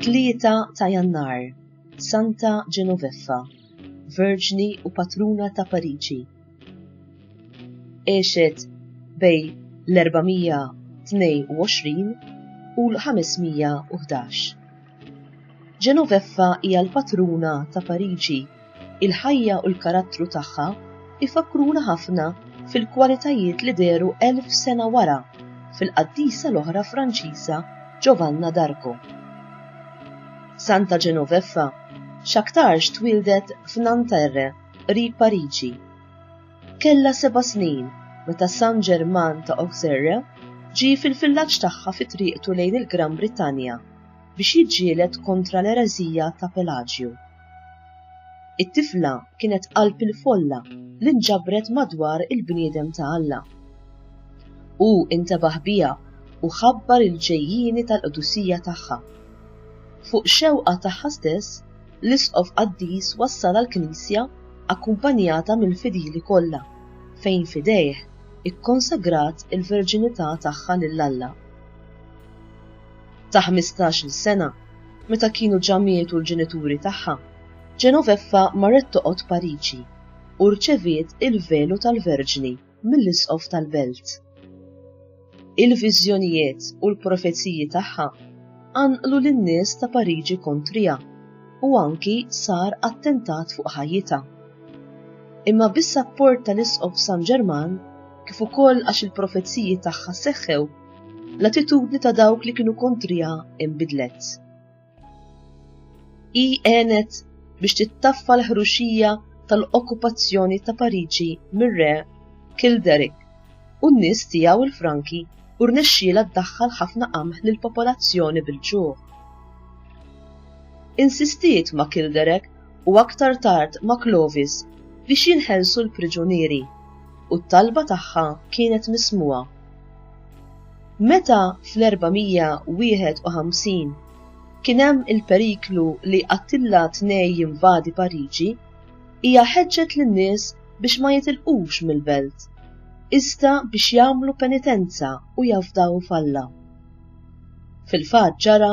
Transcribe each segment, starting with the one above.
Tlieta ta' Jannar, Santa Genoveffa, Verġni u Patruna ta' Pariġi. Għexet bej l-422 u l-511. Ġenoveffa hija l-patruna ta' Pariġi. Il-ħajja u l-karattru tagħha ifakruna ħafna fil-kwalitajiet li deru elf sena wara fil-qaddisa l-oħra Franċiża Giovanna d'Arco. Santa Ġenoveffa x'aktarx twildet f'Nanterre qrib Pariġi. Kellha seba' snin meta San Ġerman ta' Auxerre ġie fil-villaġġ tagħha fi triqtu lejn il-Gran Brittanja biex jiġġieled kontra l-ereżija ta' Pelaġju. It-tifla kienet qalb il-folla li nġabret madwar il-bniedem ta' Alla. Hu intebaħ biha u ħabbar il-ġejjieni tal-qdusija tagħha. Fuq xewqa tagħha stess, L-Isqof Qaddis wassal għall-Knisja akkumpanjata mill-fidili kollha, fejn f'idejh ikkonsagrat il-verġinità tagħha lil Alla. Ta' ħmistax-il sena, meta kienu ġa mietu l-ġenituri tagħha, Genoveffa marret toqgħod Pariġi u rċeviet il-velu tal-Verġni. mill-Isqof tal-Belt. Il-viżjonijiet u l-profeziji tagħha anqlu lin-nies ta' Pariġi kontrija u anki sar attentat fuq ħajjita. Imma bis-sapport tal-Isqof San Ġerman, kif ukoll għax il-profeziji tagħha seħħew, l-attitudni ta' dawk li kienu kontrija imbidlet. Hi għenet biex tittaffa l-ħruxija tal-okkupazzjoni ta' Pariġi mir-re Kilderic u n-nies tiegħu l-Franki u rnexxiela ddaħħal ħafna qamħ lill-popolazzjoni bil-ġuħ. Insistiet ma' Kilderek u aktar tard ma' Clovis biex jinħelsu l-priġunieri u t-talba tagħha kienet mismuha. Meta fl-451 kien hemm il-periklu li Attilla tnej jinvadi Pariġi, hija ħeġġet lin-nies biex ma jitilqux mill-belt, iżda biex jagħmlu penitenza u jafdaw f'Alla. Fil-fatt ġara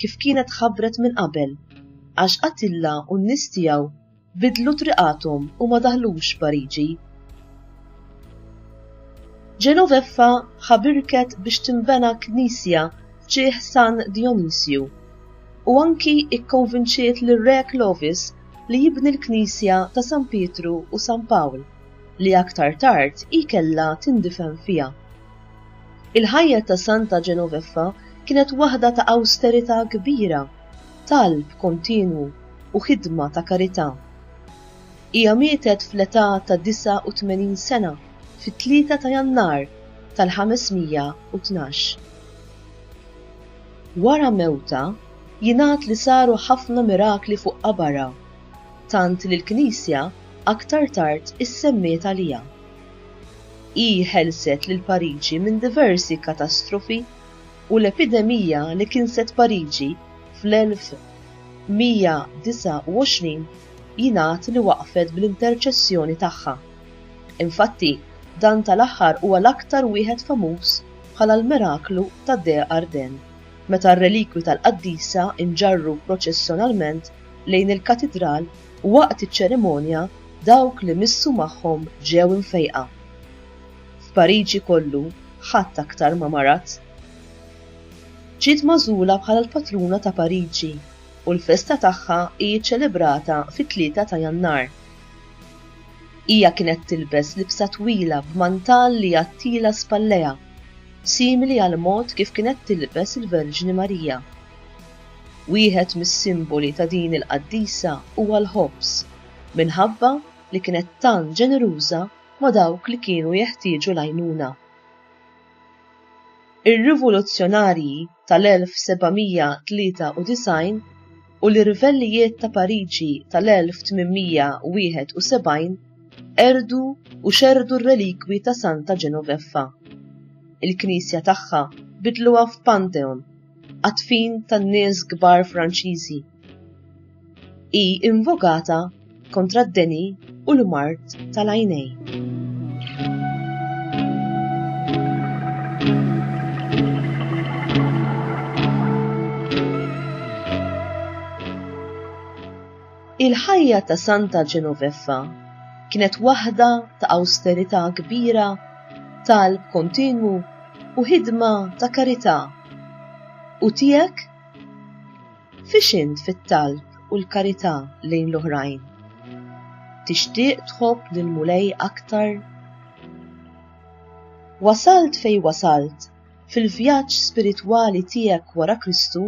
kif kienet ħabbret minn qabel, għax Attilla u n-nies tiegħu Bidlu triqathom u ma daħlux Pariġi. Genoveffa ħabirket biex tinbena knisja f'ġieħ San Dionisju u anki ikkonvinċiet lir-Re Clovis li jibni l-knisja ta' San Pietru u San Pawl li aktar tard hi kellha tindifen fiha. Il-ħajja ta' Santa Genoveffa kienet waħda ta' awsterità kbira talb kontinwu u ħidma ta' karità. Hija mietet fl-età ta' 89 sena fit-Tlieta ta' Jannar tal-512. Wara mewtha, jingħad li saru ħafna mirakli fuq qabarha, tant li l-Knisja aktar tard issemmiet għaliha. Hi ħelset lil Pariġi minn diversi katastrofi, u l-epidemija li kinset Pariġi fl-1129 jingħad li waqfet bl-interċessjoni tagħha. Infatti, dan tal-aħħar huwa l-aktar wieħed famuż bħala l-miraklu ta' De Arden, meta r-relikwi tal-qaddisa nġarru proċessjonalment lejn il-katidral u waqt iċ-ċerimonja dawk li missu magħhom ġew imfejqa. F'Pariġi kollu ħadd aktar ma marat. Ġiet magħżula bħala l-patruna ta' Pariġi u l-festa tagħha hi ċċelebrata fit-tlieta ta' Jannar. Hija kienet tilbes libsa twila b'mantall li jgħattilha spallejha, simili għall-mod kif kienet tilbes il-Verġni Marija. Wieħed mis-simboli ta' din il-qaddisa huwa l-ħobż, minħabba li kienet tant ġeneruża ma' dawk li kienu jeħtieġu l-għajnuna. Ir-rivoluzzjonarji tal-1793 u l-irvellijiet ta' Pariġi tal-1871 qerdu u xerrdu r-relikwi ta' Santa Genoveffa. Il-knisja tagħha bidluha f'pantheon għad-dfin tan-nies kbar Franċiżi. hi invokata kontra d-deni u l-mart tal-għajnej. Il-ħajja ta' Santa Genoveffa kienet waħda ta' austerità kbira, talb kontinwu u ħidma ta' karità. U tiegħek? Fiex int fit-talb u l-karità lejn l-oħrajn? Tixtieq tħobb lill-Mulej aktar? Wasalt fejn wasalt fil-vjaġġ spiritwali tiegħek wara Kristu,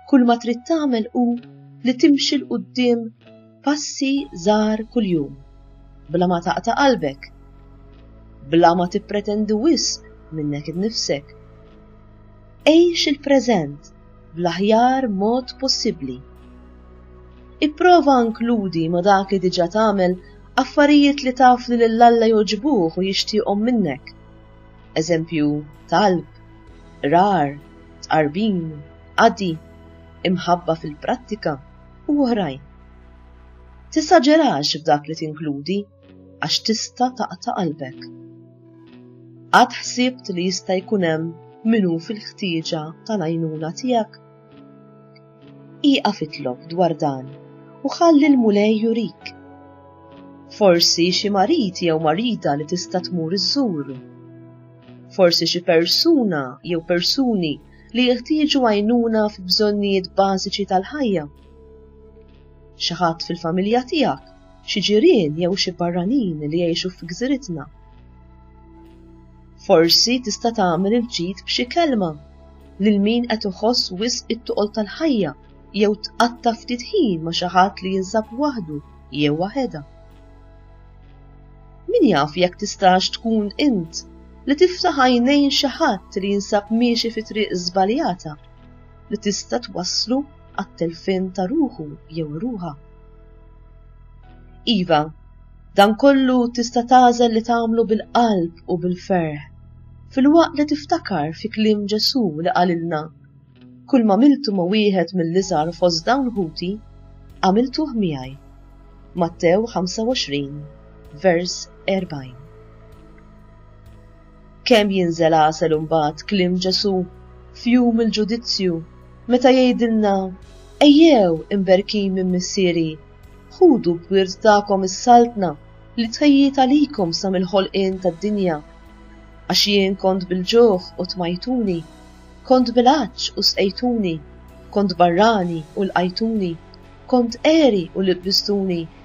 kull ma trid tagħmel hu li timxi 'l quddiem passi żgħar kuljum, bla ma taqta' qalbek, bla ma tippretendi wisq minnek innifsek. Għix il-preżent bl-aħjar mod possibbli. Ipprova inkludi ma' dak li diġà tagħmel affarijiet li taf li lil Alla jogħġbuh u jixtieqhom minnek. Eżempju, talb, rar, tqarbin, qadi, imħabba fil-prattika u oħrajn. Tisaġerax f'dak li tinkludi. għax tista' taqta' qalbek. Għad ħsibt li jista' jkun hemm min hu fil-ħtieġa tal-għajnuna tiegħek? Iqaf itlob dwar dan u ħalli l-mulej jurik. Forsi xi marid jew marida li tista' tmur iżżur. Forsi xi persuna jew persuni li jeħtieġu għajnuna fi bżonnijiet bażiċi tal-ħajja. Xi ħadd fil-familja tiegħek xi ġirien jew xi barranin li jgħixu fi gżiritna. Forsi tista' tagħmel il-ġid b'xi kelma lil min qed iħoss wisq it-toqol tal-ħajja jew tqatta' ftit ħin ma' xi ħadd li jinsab waħdu jew waħedha. Min jaf jekk tistax tkun int li tiftaħ għajnejn xi ħadd li jinsab miexi fi triq żbaljata li tista' twasslu għat-telfien ta' ruħu jew ruħa. Iva, dan kollu tista' tażel li tagħmlu bil-qalb u bil-ferħ. Filwaqt li tiftakar fi kliem Ġesu li qalilna, kull ma miltu ma' wieħed mill-iżgħar fost dawn ħuti, għamiltuh miegħi. Mattew 25, vers 40. Kemm jinżel għasel imbagħad kliem Ġesù f'jum il-ġudizzju meta jgħidilna, Ejjew, imberkin minn Missieri, ħudu b'wirt tagħkom is-Saltna li tħejjiet għalikom sa mill-ħolqien tad-dinja. Għax jien kont bil-ġuħ u tmajtuni, kont bil-għatx u sqejtuni, kont barrani u lqajtuni, kont għeri u libbistuni.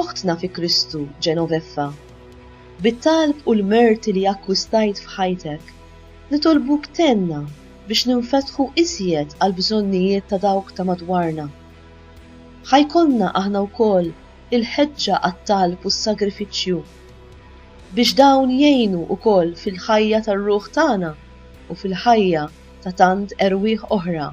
Oħtna fi Kristu, Genoveffa, bit-talb u l-merti li akkwistajt f'ħajtek, nitolbuk tgħinna biex ninfetħu iżjed għall-bżonnijiet ta' dawk ta' madwarna. Ħa jkollna aħna wkoll il-ħeġġa għat-talb u s-sagrifiċċju, biex dawn jgħinu wkoll fil-ħajja tar-ruħ tagħna u fil-ħajja ta' tant erwieħ oħra.